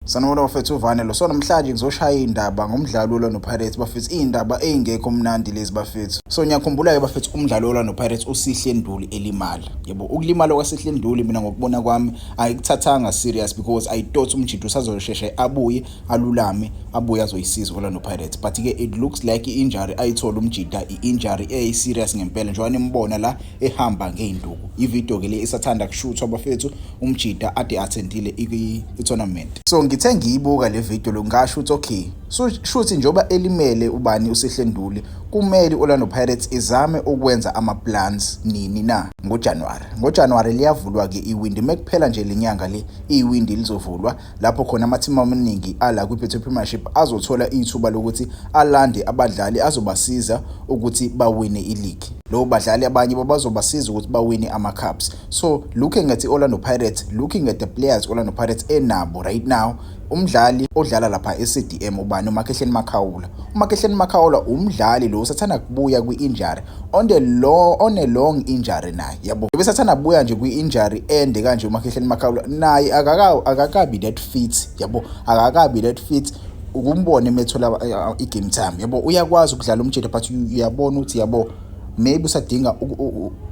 Sanibona bafethu uvane lo so namhlanje ngizoshaya indaba ngomdlalo olwa noPirates bafethu indaba eyingekho mnandi lezi bafethu so ngiyakhumbula ke bafethu umdlalo olwa noPirates usihle nduli elimala yebo ukulimala kwasihle nduli mina ngokubona kwami ayikuthathanga serious because i thought umjidi usazosheshe abuye alulame abuye azoyisiza olwa noPirates but ke it looks like injury ayithola umjida iinjury eyi serious ngempela njengoba nimbona la ehamba ngeinduku ivideo ke le isathanda kushuthwa bafethu umjita ade attendile i-tournament. So ngithe ngiyibuka le video lo ngasho ukuthi okay so shuthi njengoba elimele ubani uSihle Nduli kumele Orlando Pirates izame ukwenza ama plans nini na ngoJanuary ngoJanuary liyavulwa ke iwindi mekuphela nje lenyanga le iwindi lizovulwa lapho khona amathimba amaningi ala kwiBetway Premiership azothola ithuba lokuthi alande abadlali azobasiza ukuthi bawine ileague lo badlali abanye babazobasiza ukuthi bawine ama cups So looking at Orlando Pirates, looking at the players Orlando Pirates enabo right now, umdlali odlala lapha eCDM ubani uMakhehleni Makhaula. UMakhehleni Makhaula umdlali lo usathanda kubuya kwi-injury on the long on a long injury naye. Yabo. Besathanda kubuya nje kwi-injury ende kanje uMakhehleni Makhaula naye akaka akakabi that fit. Yabo. Akakabi that fit ukumbona emethola eh, i-game time. Yabo uyakwazi ukudlala umjede but uyabona ukuthi yabo maybe usadinga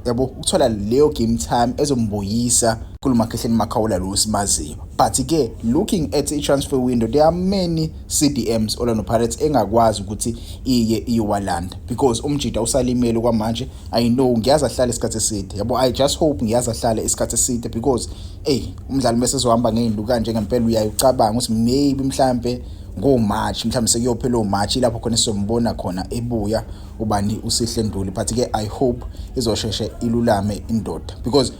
yabo ukuthola leyo game time ezombuyisa kulo makhehleni makhawula lo simaziyo but ke looking at i-transfer window there are many cdms orlando pirates engakwazi ukuthi iye iyowalanda because umjida usalimele kwamanje i know ngiyazi ahlale isikhathi eside yabo i just hope ngiyazi ahlale isikhathi eside because eyi umdlali uma sezohamba ngeyindu kanje ngempela uyaye ucabanga ukuthi maybe mhlampe ngomarch mhlawumbe sekuyophela omarch ilapho khona sizombona khona ebuya ubani usihle nduli but ke i hope izosheshe ilulame indoda because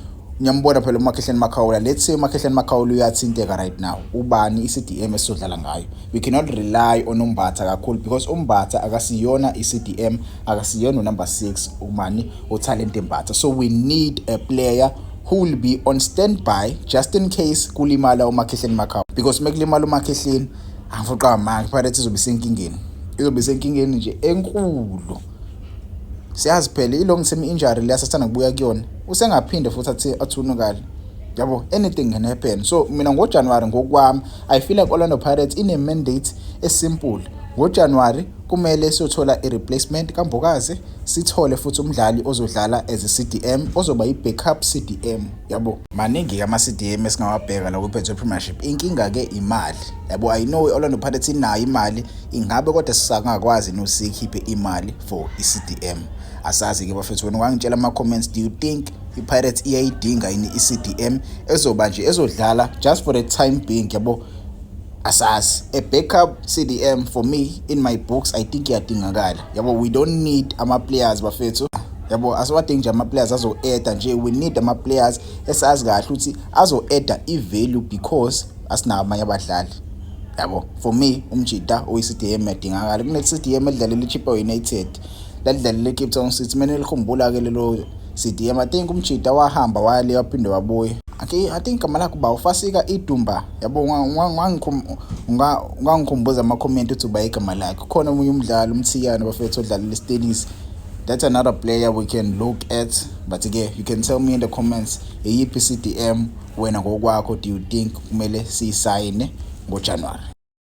ngiyambona phela umakhehleni makhawula let's say umakhehleni makhawula uyathinteka right now ubani i-cdm esizodlala ngayo we cannot rely on umbatha kakhulu because umbatha akasiyona i-cdm akasiyona unumber 6 umani utalent embatha so we need a player who will be on standby just in case kulimala umakhehleni makhawula because uma kulimala umakhehleni angifoqa manje iPirates izobe isenkingeni izobe isenkingeni nje enkulu siyazi phela i-long term injury leya sasithanda kubuya kuyona usengaphinde futhi athi athunukale yabo anything can happen so mina ngojanuwari ngokwami i feel like orlando pirates ine-mandate esimple ngojanuwari kumele siyothola i-replacement kambokazi sithole futhi umdlali ozodlala as i-cdm ozoba yi-backup cdm yabo maningi-ke ama-cdm esingawabheka la kwi-betway premiership inkinga-ke imali yabo i know i-orlando pirates inayo imali ingabe kodwa sisangakwazi yini siyikhiphe imali for i-cdm asazi-ke bafethu wena ungangitshela ama-comments do you think i-pirates iyayidinga yini i-cdm ezoba nje ezodlala just for the time being yabo asazi a backup cdm for me in my books i think iyadingakala yabo we don't need ama-players bafethu yabo asiwadingi nje ama-players azo-eda nje we need ama-players esazi kahle ukuthi azo-eda i-value because asinawo abanye abadlali yabo for me umjita oyi-cdm yadingakala kune-cdm edlalela ichipa united ladlalela icape town city kumele likhumbula-ke lelo cdm i think umjita wahamba waya le waphinde wabuye okay i think gama lakho uba ufasika idumba yabo ungangikhumbuza amakhomenti uthi uba igama lakhe khona omunye umdlali umthiyane bafethu odlalela istenisi that's another player we can look at but-ke you can tell me in the comments iyiphi i-cdm wena ngokwakho do you think kumele siyisayine ngojanuwari